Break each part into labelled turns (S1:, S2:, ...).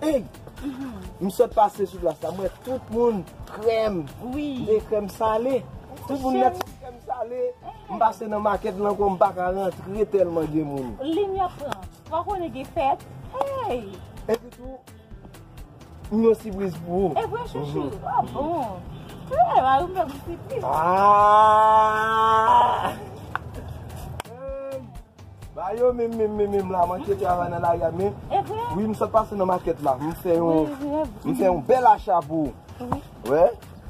S1: Pig!
S2: M sot pase sou plas la, m wè tout moun krèm, de krèm
S1: sale.
S2: Tout moun nèt sou krèm sale. M pase nan makèt lan ankò, m pa ka rantre tèlman gen moun. Lim y ap pran.
S1: Ou pa konnen gen fèt. Hey! Epi tou,
S2: m gen yon sipriz pou ou. E vre chouchou? A
S1: bon! Tou lè a ou m fè m sipriz. Aah!
S2: Hey! Ba yo menm menm menm menm la manke travay nan lari a men wi m sot pase nan makèt la m fè yon m fè yon bèl acha pou ou wè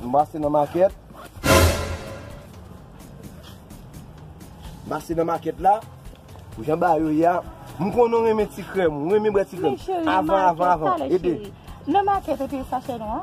S2: m pase nan makèt m pase nan makèt la pou jan ba yo ye a m konnen ou renmen ti krèm ou renmen bwè ti krèm avan avan avan ede nan makèt ou te
S1: sachè nwa